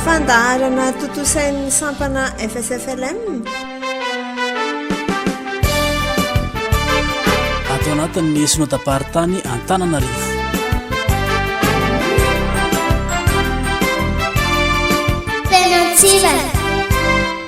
Fandaharana tontosain'ny sampana FSFLM. Ato anatin'ny esona taparitany Antananarivo. Tena tsivana.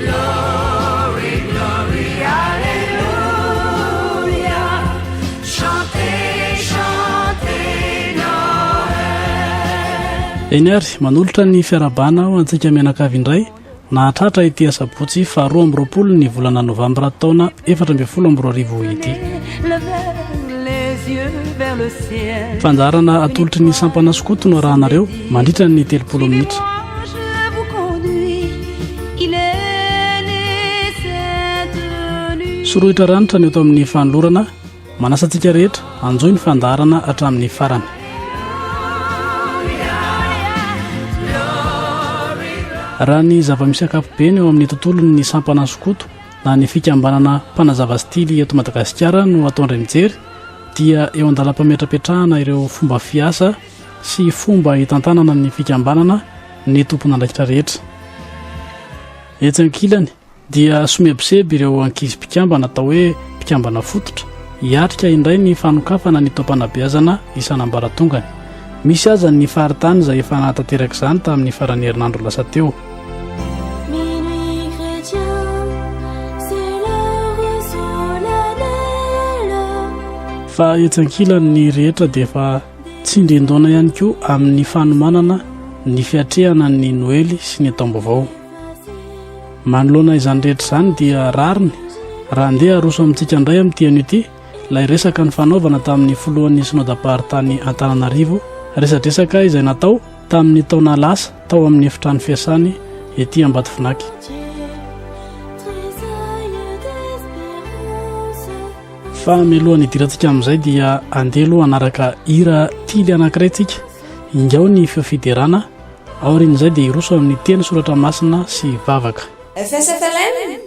Glory, glory, Alleluia, chantez, chantez Noël. Eny ary, manolotra ny fiarahabana ho antsika mianakavy indray, nahatratra ity asabotsy faharoa amby roapolo ny volana novambra taona efatra ambin'ny folo amby roa arivo ity. Fandaharana atolotry ny sampana skoto no arahanareo. Mandritra ny telopolo minitra. Sorohitra ranitra ny eto amin'ny fanolorana manasa antsika rehetra anjoy ny fandaharana hatramin'ny farany. Raha ny zava-misy ankapobeny eo amin'ny tontolon'ny sampana sokoto na ny fikambanana mpanazava stily eto Madagasikara no ataon-dry mijery dia eo an-dalam-pametrapetrahana ireo fomba fiasa sy fomba hitantanana ny fikambanana ny tompon'andraikitra rehetra. Etsy ankilany, dia somebiseby ireo ankizy mpikambana atao hoe mpikambana fototra hiatrika indray ny fanokafana ny taom-panabeazana isan'ambaratongany. Misy aza ny faritany izay efa nahatanteraka izany tamin'ny faran'ny herinandro lasa teo. Fa etsy ankilany, ny rehetra dia efa. Tsindrin-daona ihany koa amin'ny fanomanana ny fiatrehana ny Noely sy ny Taom-baovao. Manoloana izany rehetra izany dia rariny raha andeha haroso amintsika indray amin'ity anio ity ilay resaka nifanaovana tamin'ny filohan'ny Synodam-paritany Antananarivo, resadresaka izay natao tamin'ny taona lasa tao amin'ny efitrano fiasany ety Ambatovinaky. Fa mialoha ny hidirantsika amin'izay dia andeha aloha hanaraka hira tily anankiray tsika ingao ny feo fiderana aorian'izay dia hiroso amin'ny teny soratra masina sy vavaka FSFLM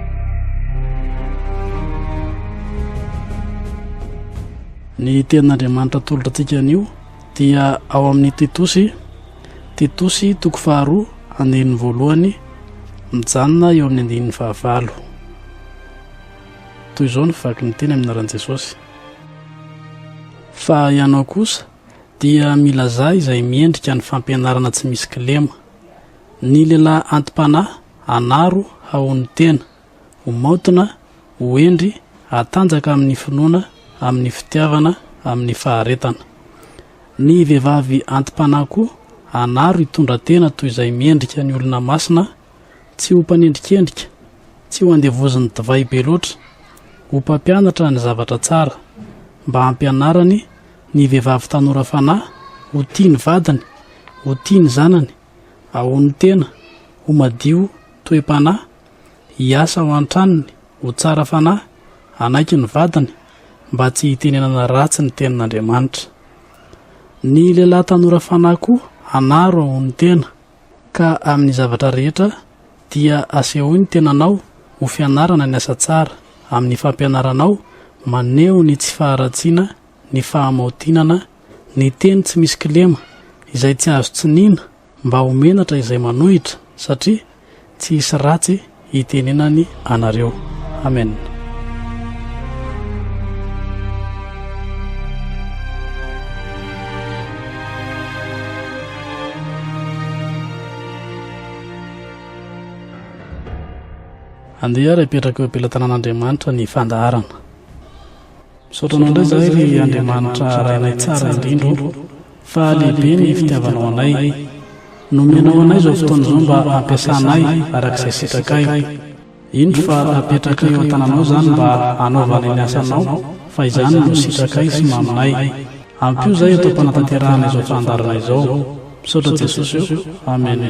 Ny tenin'Andriamanitra atolotra antsika anio dia ao amin'ny Titosy, Titosy toko faharoa andininy voalohany mijanona eo amin'ny andininy fahavalo. Toy izao ny vaky ny teny amin'ny anaran'i Jesosy. Fa ianao kosa dia milazà izay miendrika ny fampianarana tsy misy kilema. Ny lehilahy anti-panahy Anaro haon'ny tena. Ho maontina, ho hendry, hatanjaka amin'ny finoana, amin'ny fitiavana, amin'ny faharetana. Ny vehivavy anti-panahy koa, anaro hitondra tena toy izay miendrika ny olona masina, tsy ho mpanendrikendrika, tsy ho andevozin'ny divay be loatra, ho mpampianatra ny zavatra tsara, mba hampianarany ny vehivavy tanora fanahy ho tia ny vadiny, ho tia ny zanany, Ahoan'ny tena, ho madio toe-panahy, hiasa ao an-tranony, ho tsara fanahy, hanaiky ny vadiny, mba tsy hitenenana ratsy ny tenin'Andriamanitra. Ny lehilahy tanora fanahy koa hanaro ahoan'ny tena. Ka amin'ny zavatra rehetra dia asehoy ny tenanao ho fianarana ny asa tsara, amin'ny fampianaranao maneho ny tsy faharatsiana, ny fahamaotinana, Ny teny tsy misy kilema, izay tsy azo tsiniana mba ho menatra izay manohitra, satria tsy hisy ratsy hitenenany anareo. Amen. Andeha ary apetraka eo am-pelatanan'Andriamanitra ny fandaharana. Misaotra anao indray izahay ry Andriamanitra Rainay tsara indrindra o, fa lehibe ny fitiavanao anay. Nomenao anay izao fotoana izao mba hampiasanay araka izay sitrakay. Indro fa apetrakay eo an-tananao izany mba hanaovany ny asanao, fa izany no sitrakay sy maminay. Ampio izahay eto am-panatanterahana izao fandaharana izao. Misaotra Jesosy o. Amena.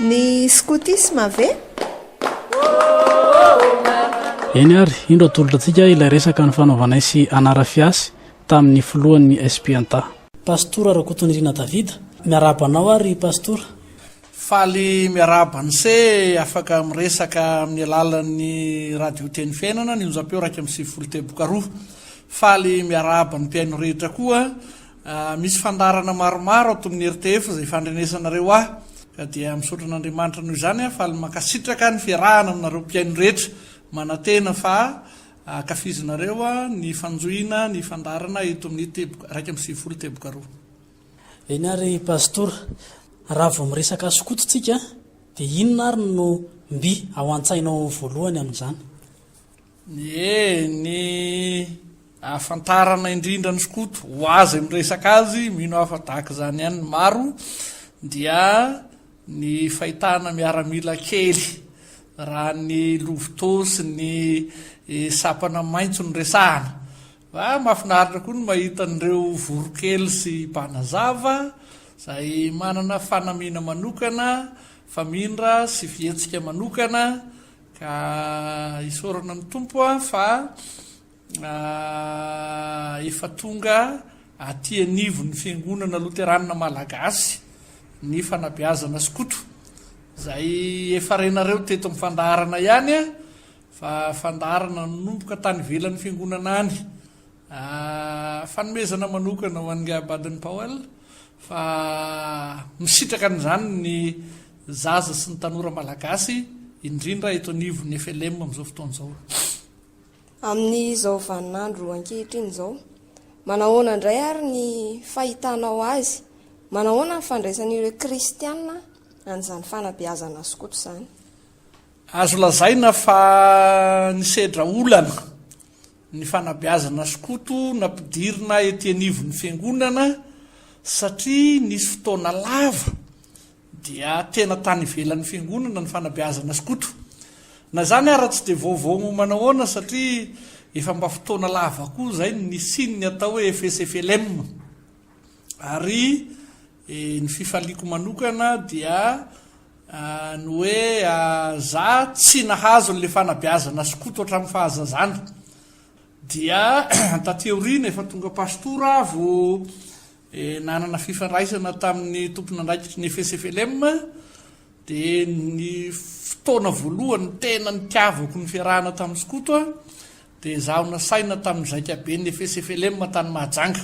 Ny skotisma ve? Eny ary, indro atolotra antsika ilay resaka nifanaovanay sy Anarafiasy tamin'ny filohan'ny SPNTA. Pastora Rakotonirina David, miarahaba anao ary Pastora. Faly miarahaba an'ise afaka miresaka amin'ny alalan'ny Radio Teny Fiainana, ny onjam-peo iraika amby sivifolo teboka roa. Faly miarahaba ny mpihaino rehetra koa. Misy fandaharana maromaro ato amin'ny rtf izay fandrenesanareo ahy ka dia misaotra an'Andriamanitra noho izany aho faly mankasitraka ny fiarahana aminareo mpihaino rehetra manantena fa ankafizinareo ny fanjohiana ny fandaharana eto amin'ny teboka iraika amby sivifolo teboka roa. Eny ary Pastora, raha vao miresaka skoto tsika dia inona ary no mby ao antsainao voalohany amin'izany? Ny ny ahafantarana indrindra an'i Skoto ho azy miresaka azy, mino aho fa tahaka izany ihany ny maro, dia ny fahitana miaramila kely raha ny Lovito sy ny sapana maitso no resahana. Fa mahafinaritra koa ny mahita an'ireo Voronkely sy Mpanazava izay manana fanamiana manokana, famindra sy fihetsika manokana Ka isaorana amin'ny Tompo aho fa efa tonga aty anivon'ny Fiangonana Loteranina Malagasy ny fanabeazana skoto. Izay efa renareo teto amin'ny fandaharana ihany fa fandaharana nanomboka tany ivelan'ny Fiangonana any. Fanomezana manokana ho an'Ingahy Baden-Powell fa misitraka an'izany ny zaza sy ny tanora malagasy indrindra eto anivon'ny FLM amin'izao fotoana izao. Amin'izao vaninandro ankehitriny izao, manahoana indray ary ny fahitanao azy? Manahoana ny fandraisan'ireo kristiana an'izany fanabeazana skoto izany? Azo lazaina fa nisedra olana ny fanabeazana skoto nampidirina ety anivon'ny fiangonana satria nisy fotoana lava dia tena tany ivelan'ny fiangonana ny fanabeazana skoto. Na izany ara tsy dia vaovao ho manahoana satria efa mba fotoana lava koa izay no nisian'ny atao hoe FSFLM ary Ny fifaliako manokana dia ny hoe za tsy nahazo an'ilay fanabeazana skoto hatramin'ny fahazazana. Dia taty aoriana efa tonga pastora aho vao nanana fifandraisana tamin'ny tompon'andraikitry ny FSFLM dia ny fotoana voalohany tena nitiavako ny fiarahana tamin'ny skoto dia izaho nasaina tamin'ny zaikaben'ny FSFLM tany Mahajanga.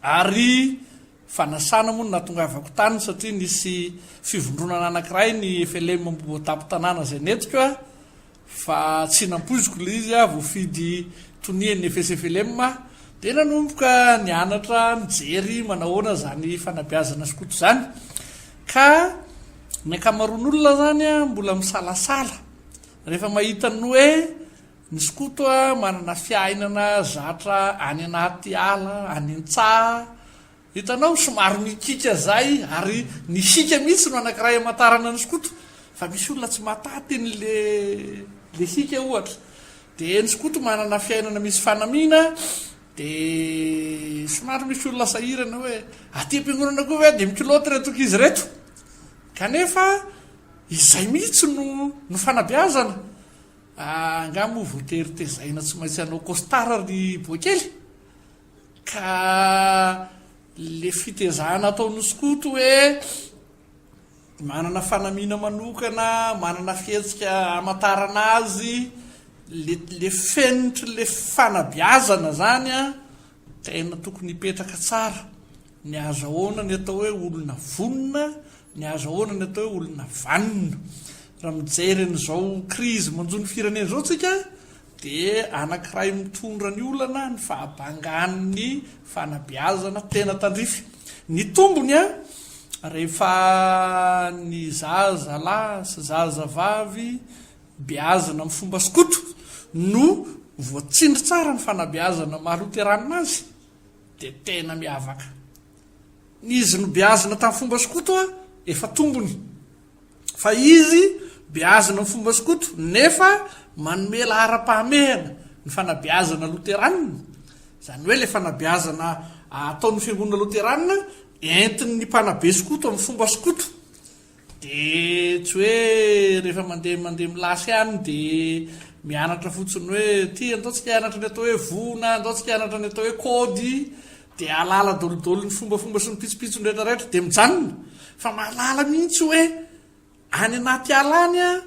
Ary fanasana moa no nahatongavako tany satria nisy fivondronana anankiray ny FLM Ambohivoatapy tanàna izay nentiko a, fa tsy nampoiziko ilay izy a, voafidy tonia ny FSFLM aho, dia nanomboka nianatra nijery manahoana izany fanabeazana skoto izany, ka ny ankamaroan'olona izany a mbola misalasala rehefa mahita ny hoe Ny skoto manana fiainana zatra any anaty ala, any an-tsaha, hitanao somary mikiaka izay ary ny hiaka mihitsy no anankiray hamantarana ny skoto fa misy olona tsy mahataty an'ilay hiaka ohatra. Dia ny skoto manana fiainana misy fanamiana dia somary misy olona sahirana hoe aty am-piangonana koa ve dia mi-culotte ireto ankizy ireto? Kanefa izay mihitsy no fanabeazana. Angaha moa voatery tezaina tsy maintsy hanao costard ry boaikely? Ka le fitezahana ataon'osy koto hoe manana fanamiana manokana, manana fihetsika hamantarana azy, le le fenitry le fanabeazana zany an, Tena tokony hipetraka tsara ny azahoana ny atao hoe olona vonona, ny azahoana ny atao hoe olona vanona. Raha mijery an'izao krizy manjo ny firenena izao isika dia anankiray mitondra ny olana ny fahabangan'ny fanabeazana tena tandrify. Ny tombony rehefa ny zazalahy sy zazavavy beazina amin'ny fomba skoto no voatsindry tsara ny fanabeazana ny maha loteranina azy dia tena miavaka. Ny izy nobeazina tamin'ny fomba skoto efa tombony. Fa izy beazina amin'ny fomba skoto nefa manome laharam-pahamehana ny fanabeazana loteranina, izany hoe ilay fanabeazana ataon'ny fiangonana loteranina entin'ny mpanabe skoto amin'ny fomba skoto Dia tsy hoe rehefa mandeha mandeha milasy ihany dia mianatra fotsiny hoe ity andao tsika hianatra ny atao hoe voa na andao tsika hianatra ny atao hoe kôdy dia ahalala daholodoly ny fombafomba sy ny pitsopitsony rehetrarehetra dia mijanona fa mahalala mihitsy hoe any anaty ala any an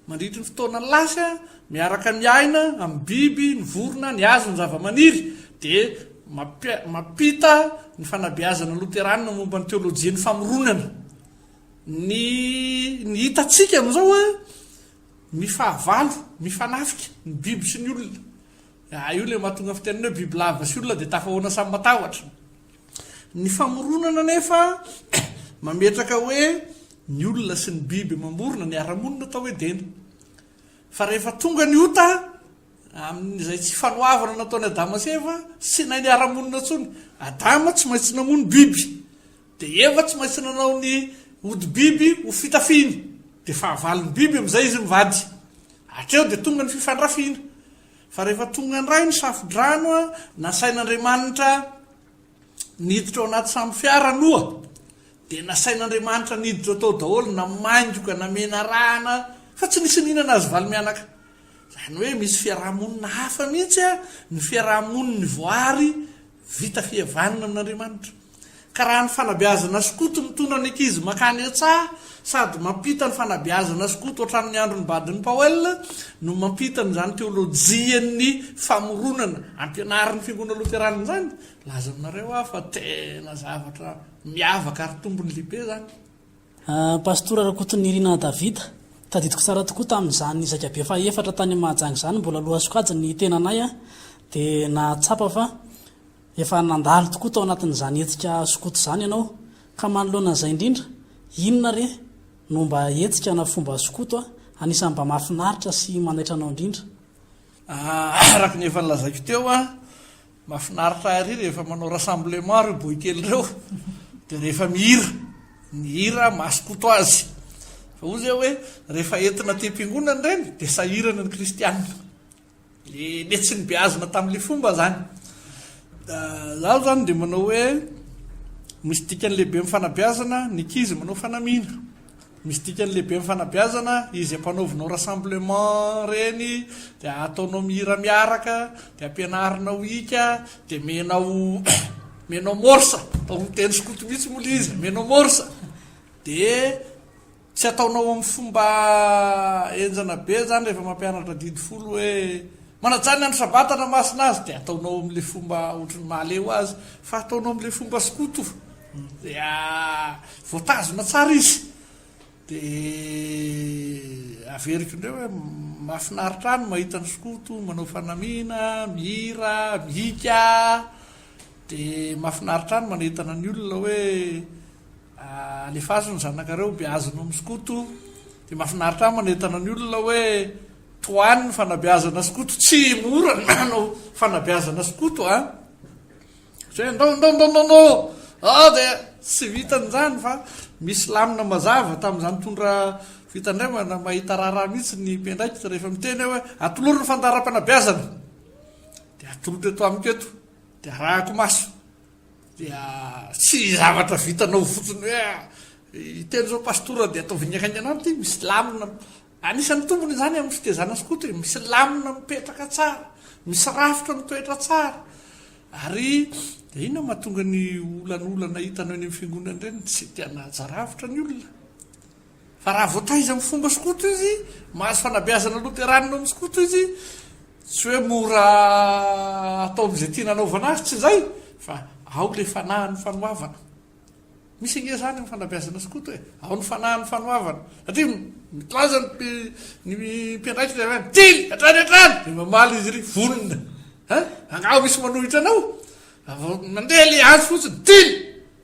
Mandritry ny fotoana lasa, miaraka ny aina amin'ny biby, ny vorona, ny hazo, ny zavamaniry, dia mampi mampita ny fanabeazana loterana momba ny teolojian'ny famoronana. Ny ny hitantsika amin'izao an, mifahavalo, mifanafika ny biby sy ny olona. Io ilay mahatonga ny fitenenana hoe bibilava sy olona dia tafahoana samy matahotra. Ny famoronana anefa mametraka hoe ny olona sy ny biby mamorona ny ara-monina atao Edena. Fa rehefa tonga ny ota, amin'izay tsy fanoavana nataon'i Adama sy Eva, tsy nainy ara-monina intsony. Adama tsy maintsy namono biby, dia Eva tsy maintsy nanao ny hodi-biby ho fitafiany, dia fahavalon'ny biby amin'izay izy mivady. Hatreo dia tonga ny fifandrafiana. Fa rehefa tonga indray ny Safodrano, nasain'Andriamanitra niditra ao anaty sambo fiara aloha, dia nasain'Andriamanitra niditra tao daholo, namaingoka, namenarahana, fa tsy nisy nihinana azy valo mianaka. Izany hoe misy fiaraha-monina hafa mihitsy ny fiaraha-monin'ny voary vita fihavanana amin'Andriamanitra. Ka raha ny fanabeazana skoto mitondra ny ankizy makany an-tsaha sady mampita ny fanabeazana skoto hatramin'ny andron'ny Baden Powell no mampita an'izany teolojian'ny famoronana ampianarin'ny Fiangonana Loterana izany, laza aminareo aho fa tena zavatra miavaka ary tombony lehibe izany. Pastora Rakotonirina David, Tadidiko tsara tokoa tamin'izany zaikabe fahefatra tany Mahajanga izany, mbola lohasokajy ny tenanay dia nahatsapa fa Efa nandalo tokoa tao anatin'izany hetsika skoto izany ianao, ka manoloana an'izay indrindra, inona re no mba hetsika na fomba skoto anisan'ny mba mahafinaritra sy manaitra anao indrindra? Araka ny efa nolazaiko teo, mahafinaritra ahy ery rehefa manao rassemblement ireo boaikely ireo, dia rehefa mihira, ny hira maha skoto azy. Fa hoy izay hoe, rehefa entina aty am-piangonana ireny dia sahirana ny kristiana. Dia netsiny beazina tamin'ilay fomba izany. Izaho izany dia manao hoe misy dikany lehibe amin'ny fanabeazana ny ankizy manao fanamiana. Misy dikany lehibe amin'ny fanabeazana izy ampanaovinao rassemblement ireny, dia ataonao mihira miaraka, dia ampianarinao hika, dia omenao omenao morse, atao amin'ny teny skoto mihitsy moa ilay izy, omenao morse. Dia Tsy ataonao amin'ny fomba henjana be izany rehefa mampianatra didy folo hoe manaja ny andro sabata na masina azy dia ataonao amin'ilay fomba ohatry ny mahaleo azy fa ataonao amin'ilay fomba skoto dia voatazona tsara izy dia averiko indray hoe mahafinaritra ahy ny mahita ny skoto manao fanamiana, mihira, mihika dia mahafinaritra ahy ny manentana ny olona hoe Alefaso ny zanakareo beazina amin'ny skoto Dia mahafinaritra ahy manentana ny olona hoe Tohano ny fanabeazana skoto Tsy mora ny manao fanabeazana skoto an Satria ndao ndao ndao ndao ndao Ao dia tsy vitan'izany fa misy lamina mazava tamin'izany tondra fitandremana Mahita raharaha mihitsy ny mpiandraikitra rehefa miteny aho hoe Atolory ny fandaharam-panabeazana Dia atolotra eto amiko eto Dia arahako maso Dia tsy zavatra vitanao fotsiny hoe hiteny izao pastora dia ataovy ny hainganany ity, misy lamina, anisan'ny tombony izany amin'ny fitezana skoto e, misy lamina mipetraka tsara, misy rafitra mitoetra tsara, ary dia inona no mahatonga ny olanolana hitanao eny amin'ny fiangonana ireny, tsy te hanaja rafitra ny olona, Fa raha voataiza amin'ny fomba skoto izy, mahazo fanabeazana loteranina ao amin'ny skoto izy, tsy hoe mora atao amin'izay tiana anaovana azy, tsy izay, fa ao ilay fanahin'ny fanoavana. Misy ange izany amin'ny fanabeazana skoto e, ao ny fanahin'ny fanoavana. Satria milaza ny ny mpiandraikitra avy any, tily, hatrany hatrany! Dia mamaly izy iry, vonona. An, angaha misy manohitra anao? Mandeha ilay azy fotsiny, tily!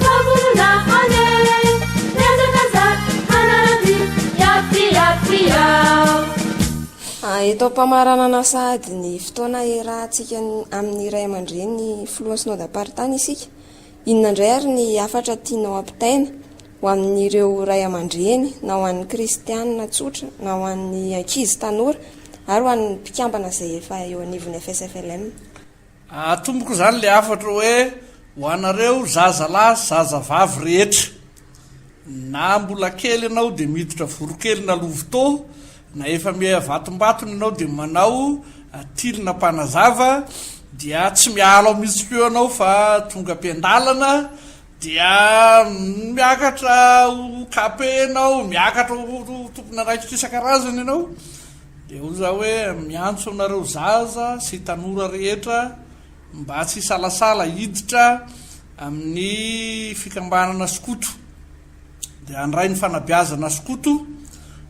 Fahavolona anie, mihazakazaka hanaradia, hiato dia hiato iao. Eto am-pamaranana sahady ny fotoana iarahantsika amin'ny ray aman-dreny filohan'ny Synodam-paritany isika. Inona indray ary ny hafatra tianao hampitaina ho amin'ireo ray aman-dreny na ho an'ny kristiana tsotra na ho an'ny ankizy tanora ary ho an'ny mpikambana izay efa eo anivon'ny FSFLM? Atomboko izany ilay hafatra hoe ho anareo zazalahy sy zazavavy rehetra. Na mbola kely ianao dia miditra voronkely na lovitô, na efa miha vatombatony ianao dia manao tily na mpanazava dia tsy miala ao mihitsy koa ianao fa tonga am-piandalana, Dia miakatra ho KP ianao, miakatra ho tompon'andraikitra isan-karazany ianao, dia hoy izaho hoe miantso anareo zaza sy tanora rehetra mba tsy hisalasala hiditra amin'ny fikambanana skoto. dia handray ny fanabeazana skoto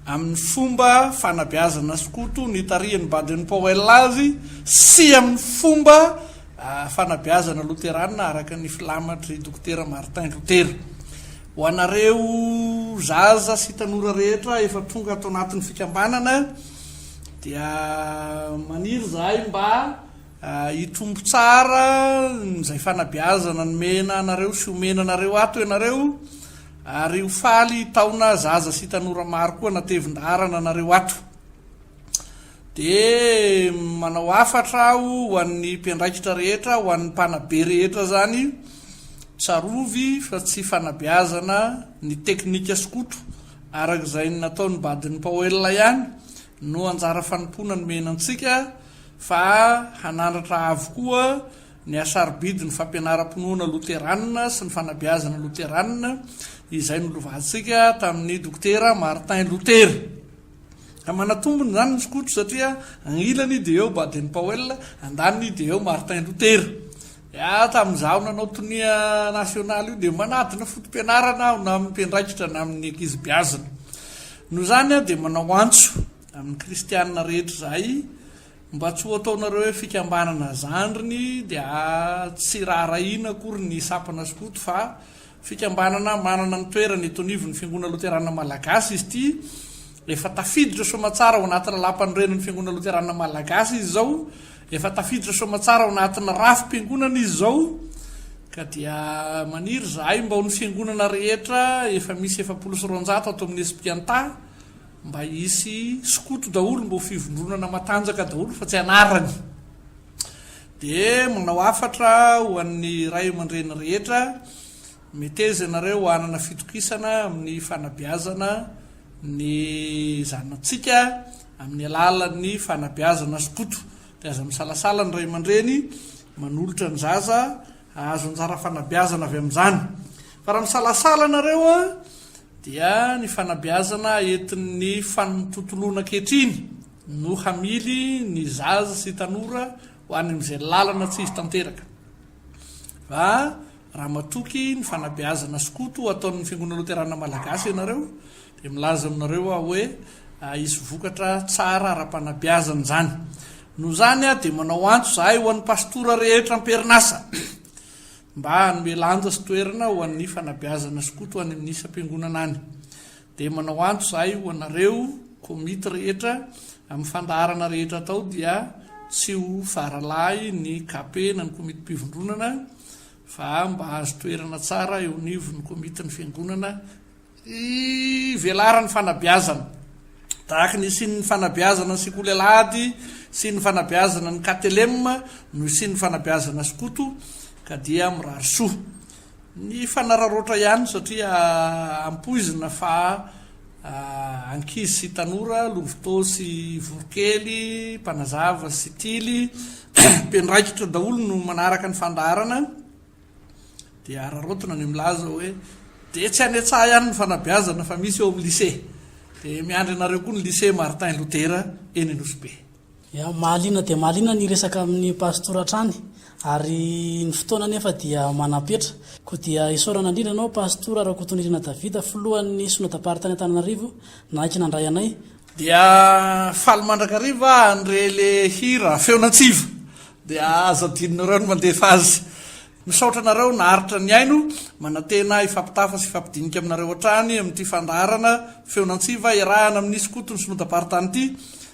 amin'ny fomba fanabeazana skoto nitarihan'i Baden Powell azy sy amin'ny fomba ah, fanabeazana loterana araka ny filamatry Dokotera Martin Luther. Ho anareo zaza sy tanora rehetra efa tonga ato anatin'ny fikambanana dia maniry zahay mba Hitombo tsara izay fanabeazana nomena anareo sy omena anareo ato ianareo ary ho faly hitaona zaza sy tanora maro koa natevin-daharana anareo ato. Dia manao hafatra aho ho an'ny mpiandraikitra rehetra, ho an'ny mpanabe rehetra izany, tsarovy fa tsy fanabeazana ny teknika skoto araka izay nataon'ny badin'i Paoela ihany, no anjara fanompoana nomena antsika fa hanandratra avo koa ny hasarobidin'ny fampianaram-pinoana loterana sy ny fanabeazana loterana izay nolovantsika tamin'ny Dokotera Martin Luther. Ka manatombony izany ny skoto satria agnilany dia eo Baden-Powell, andaniny dia eo Martin Luther. Ia, tamin'izaho nanao tonia nasionaly io dia manadina foto-pianarana aho na amin'ny mpiandraikitra na amin'ny ankizy beazina. Noho izany aho dia manao antso amin'ny kristiana rehetra izahay mba tsy ho ataonareo hoe fikambanana zandriny dia tsy raharahiana akory ny sampana skoto fa Fikambanana manana ny toerany eto anivon'ny Fiangonana Loteranina Malagasy izy ity. Efa tafiditra soamatsara ao anaty Lalàmpanorenan'ny Fiangonana Loteranina Malagasy izy izao. Efa tafiditra soamatsara ao anatin'ny rafi-piangonana izy izao. Ka dia maniry izahay mba ho ny fiangonana rehetra efa misy efapolo sy roanjato ato amin'ny Espianta mba hisy skoto daholo, mba ho fivondronana matanjaka daholo fa tsy anarany. Dia manao hafatra ho an'ny ray aman-dreny rehetra, Meteza ianareo hanana fitokisana amin'ny fanabeazana ny zanatsika amin'ny alalan'ny fanabeazana skoto. Dia aza misalasala ny ray aman-dreny manolotra ny zaza hahazo anjara fanabeazana avy amin'izany. Fa raha misalasala ianareo, dia ny fanabeazana entin'ny fantontoloana ankehitriny, no hamily ny zaza sy tanora ho any amin'izay lalana tsy hisy tanteraka fa raha matoky ny fanabeazana skoto ho ataon'ny Fiangonana Loterana Malagasy ianareo dia milaza aminareo aho hoe hisy vokatra tsara ara-panabeazana izany. Noho izany dia manao antso izahay ho an'ny pastora rehetra am-perinasa mba hanome lanja sy toerana ho an'ny fanabeazana skoto any amin'ny isam-piangonana any. Dia manao antso izahay ho anareo komity rehetra amin'ny fandaharana rehetra atao dia tsy ho faralahy ny KP na ny komitim-pivondronana fa mba hahazo toerana tsara eo anivon'ny komitin'ny fiangonana hivelaran'ny fanabeazana tahaka ny isian'ny fanabeazana ny sekoly alahady sy ny fanabeazana ny KTLM no isian'ny fanabeazana skoto ka dia mirary soa Ny fanararaotra ihany satria ampoizina fa ankizy sy tanora, lovitô sy voronkely, mpanazava sy tily, mpiandraikitra daholo no manaraka ny fandaharana dia araraotina ny milaza hoe dia tsy any an-tsaha ihany ny fanabeazana fa misy eo amin'ny lycée. Dia miandry anareo koa ny lycée Martin Luther eny Anosibe. Ya, mahaliana dia mahaliana ny hiresaka amin'ny pastora hatrany ary ny fotoana anefa dia manam-petra. Koa dia isaorana indrindra anao pastora Rakotonirina David, filohan'ny Synod Pari tany Antananarivo, nanaiky nandray anay. Dia faly mandrakariva aho handre le hira Feon'antsiva dia aza adinonareo ny mandefa azy. Misaotra anareo naharitra nihaino, manantena hifampitafa sy hifampidinika aminareo hatrany amin'ity fandaharana Feon'antsiva iarahana amin'ny Skoto ny Synodam-paritany ity.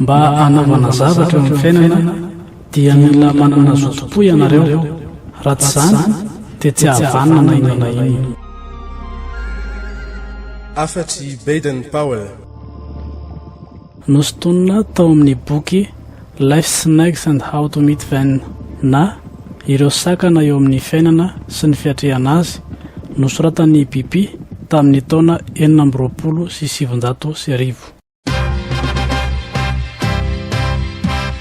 Mba hanaovana zavatra eo amin'ny fiainana dia mila manana zotom-po ianareo, raha tsy izany dia tsy hahavanona na inona na inona. Hafatr' i Baden-Powell. Nosintonina tao amin'ny boky Life's Snags and How to Meet Them na Ireo Sakana eo Amin'ny Fiainana sy ny Fiatrehana Azy, nosoratan'i Bipi tamin'ny taona enina amby roapolo sy sivinjato sy arivo.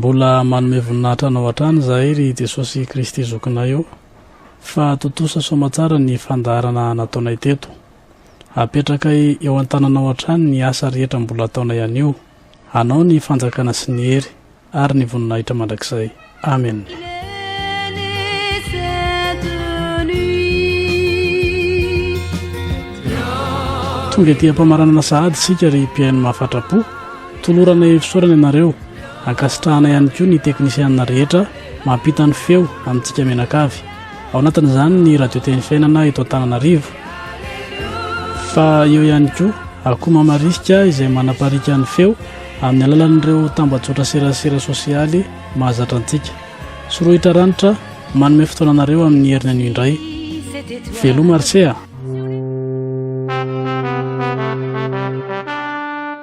Mbola manome voninahitra anao hatrany izahay ry Jesosy Kristy Zokinay ô, fa tontosa soamatsara ny fandaharana nataonay teto. Apetrakay eo an-tananao hatrany ny asa rehetra mbola ataonay anio. Anao ny fanjakana sy ny hery ary ny voninahitra mandrakizay. Amena. Tonga ety am-pamaranana sahady isika ry mpihaino mahafatra-po. Tolorana efisorana ianareo. Ankasitrahana ihany koa ny teknisianina rehetra mampita ny feo amintsika mianakavy, ao anatin'izany ny Radio Teny Fiainana eto Antananarivo. Fa eo ihany koa akoho mamarisika izay manapariaka ny feo amin'ny alalan'ireo tambajotra serasera sosialy mahazatra antsika. Sorohitra Ranitra manome fotoana anareo amin'ny heriny anio indray. Veloma RCA!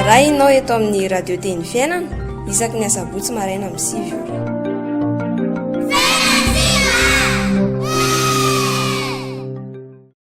Arahinao eto amin'ny Radio Teny Fiainana isaky ny asabotsy maraina amin'ny sivy ora.